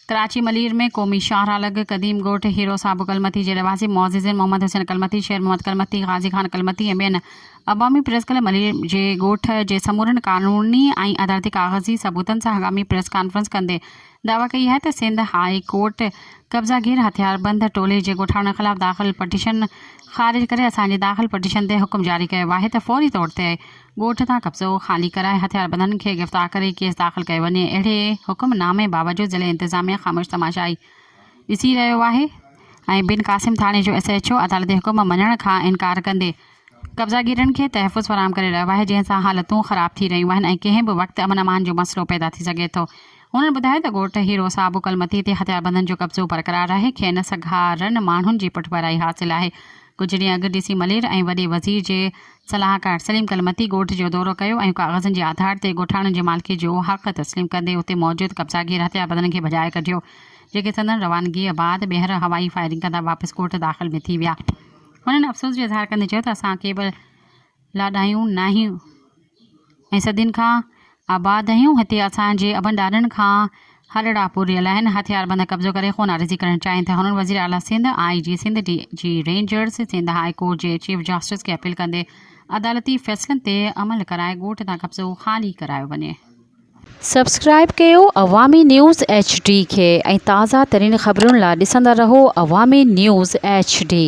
ڪراچي ملير ۾ قومي شاهراهه لڳ قديم ڳوٺ هيرو صاحب ڪلمتي جي رهواسين معززين محمد حسين ڪلمتي، شير محمد ڪلمتي، غازي خان ڪلمتي ۽ ٻين عوامي پريس ڪلب ملير جي ڳوٺ جي سمورن قانوني ۽ عدالتي ڪاغذي ثبوتن سان هنگامي پريس ڪانفرنس ڪندي دعويٰ ڪئي آهي ته سنڌ هاء ڪورٽ قبضا گير هٿياربند ٽولي جي ڳوٺاڻن خلاف داخل پٽيشن خارج ڪري اسان جي داخل پٽيشن تي حڪم جاري ڪيو آهي ته فوري طور تي ڳوٺ تان قبضو خالي ڪرائي هٿياربندن کي گرفتار ڪري ڪيس داخل ڪيو وڃي اهڙي حڪم نامي باوجود ضلعي انتظاميا خاموش تماشائي ڏسي رهيو آهي ۽ بن قاسم ٿاڻي جو ايس ايڇ او عدالتي حڪم مڃڻ کان انڪار ڪندي قبضاگيرن کي تحفظ فراهم ڪري رهيو آهي جنهن سان حالتون خراب ٿي رهيون آهن ۽ ڪنهن به وقت امن امان جو مسئلو پيدا ٿي سگهي ٿو هنن ٻڌايو ته ڳوٺ هيرو صاحب اڪل متي تي هٿياربندن جو قبضو برقرار آهي، کين سگهارن ماڻهن جي پٺڀرائي حاصل آهي. ڪجهه ڏينهن اڳ ڊي سي ملير ۽ وڏي وزير جي صلاحڪار سليم ڪل متي ڳوٺ جو دورو ڪيو ۽ ڪاغذن جي آڌار تي ڳوٺاڻن جي مالڪي جو حق تسليم ڪندي اتي موجود قبضاگير هٿياربندن کي ڀڄائي ڪڍيو جيڪي سندن روانگيء بعد ٻيهر هوائي فائرنگ ڪندا واپس ڳوٺ داخل ۾ ٿي ويا. هنن افسوس جو اظهار ڪندي چيو ته اسان کي به لاڏايون ناهيون ۽ صدين کان آباد آهيون، هتي اسان جي ابن ڏاڏن کان هلڙا پور رهيل آهن، هٿيار بند قبضو ڪري خون عارضي ڪرڻ چاهين ٿا، هنن وزير اعليٰ Sindh, I G Sindh, D G rangers, Sindh high court جي چيف جسٽس کي اپيل ڪندي عدالتي فيصلن تي عمل ڪرائي ڳوٺ تان قبضو خالي ڪرايو وڃي. سبسڪرائيب ڪيو عوامي نيوز ايڇ ڊي کي ۽ تازه ترين خبرن لا ڏسندا رهو عوامي نيوز ايڇ ڊي.